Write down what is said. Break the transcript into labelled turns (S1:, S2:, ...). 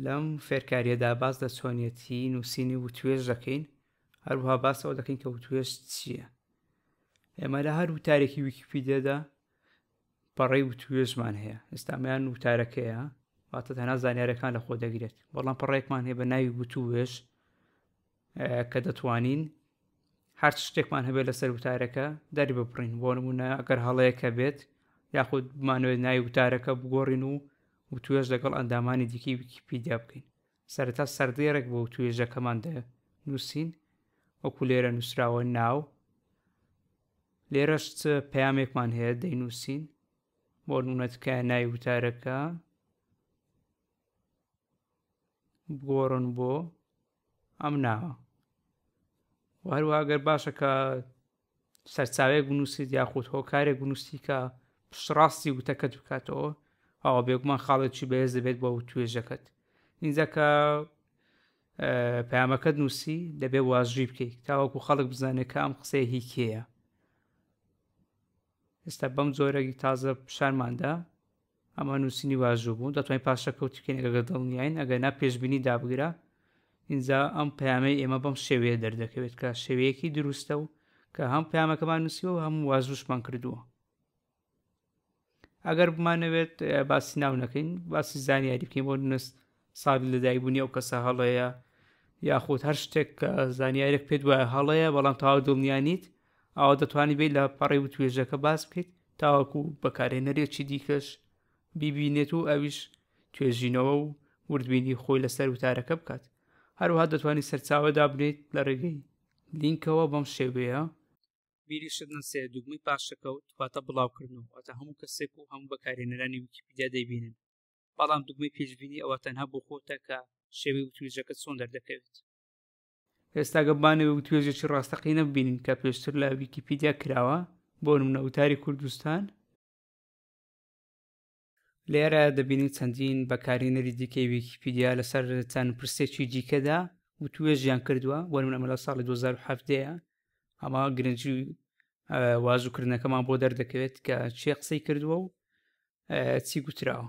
S1: لەم فێرکاریەدا باس لە چۆنیەتی نووسینی وتوێژ دەکەین هەروها باسەوە دەکەین کە وتوێژ چییە ئێمە لە هەر وتارێکی ویکیپیدێدا پەڕی وتوێژمان هەیە ئێستامیان وتارەکەیە واتە تەنا زانیارەکان لە خۆ دەگرێت بەڵام پەڕێکمان هەیە بە ناوی وتوێژ کە دەتوانین هەر شتێکمان هەبێت لەسەر وتارەکە دەری ببڕین بۆ نمونە ئەگەر هەڵەیەکە بێت یاخود بمانوێت ناوی وتارەکە بگۆڕین و و توێش لەگەڵ ئەندامانی دیکی ویکیپیدیا بکەین سەرتا سەردێڕێک بۆ توێژەکەمان دە نووسین وەکو لێرە نووسراوە ناو لێرەش پامێکمان هەیە دەینووسین بۆ نونەتکە نای وتارەکە بگۆڕن بۆ ئەم ناوە وهروە گەر باشە کە سەرچاوێک بنووسیت یاخود هۆکارێک بنووسی کە پشتڕاستی وتەکەت بکاتەوە ئەوە بێگومان خاڵێکی بەهێز دەبێت بۆ توێژەکەت اینجا کە پامەکەت نووسی دەبێ واژوی بکەیت تاوەکو خەڵک بزانێت کە ئەم قسەیە هی کێیە ئێستا بەم جۆرەی تازە پیشانماندا ئەمە نووسینی واژوو بوو دەتوانین پاشەکەوتی بکەین ئەگەر دڵنیاین ئەگەر نا پێشببینی دابگرە اینجا ئەم پامەی ئێمە بەم شێوەیە دەردەکەوێت کە شێوەیەکی دروستە و کە هەم پامەکەمان نووسیوە و هەموو واژوشمان کردووە ئەگەر بمانەوێت باسی ناو نەکەین باسی زانیاری بکەین بۆ نوست ساڵی لەدایکبوونی ئەو کەسە هەڵەیە یاخود هەر شتێک کە زانیارێک پێت وایە هەڵەیە بەڵام تاوا دڵنیانیت ئەوە دەتوانانی بێت لە پەڕی و توێژەکە باس بکەیت تاوەکو بەکارێنەرێکی دیکەش بیبینێت و ئەویش توێژینەوە و وردبینی خۆی لەسەر وتارەکە بکات هەروها دەتوانانی سەرچاوە دابنێت لە ڕێگەی لینکەوە بەم شێوەیە بیریشت نەسێ دوگمەی پاشەکەوت واتە بڵاوکردن و واتە هەموو کەسێک و هەموو بەکارێنەرانی ویکیپیدیا دەیبینن بەڵام دوگمەی پێشبینی ئەوە تەنها بۆ خۆتە کە شێوەی وتوێژەکە چۆن دەردەکەوێت ئێستاگە بانەوە وتوێژێکی ڕاستەقینە ببینین کە پێشتر لە ویکیپیدیا کراوە بۆ نمونە وتاری کوردستان لێرە دەبینین چەندین بەکارینەری دیکەی ویکیپیدیا لەسەر چەند پرسێکی دیکەدا وتوێژیان کردووە وەرمە ئەمە لە ساڵی 2017 ئەمە گرنگی وازوکردنەکەمان بۆ دەردەکەوێت کە چێ قسەی کردووە و چی گوتراوە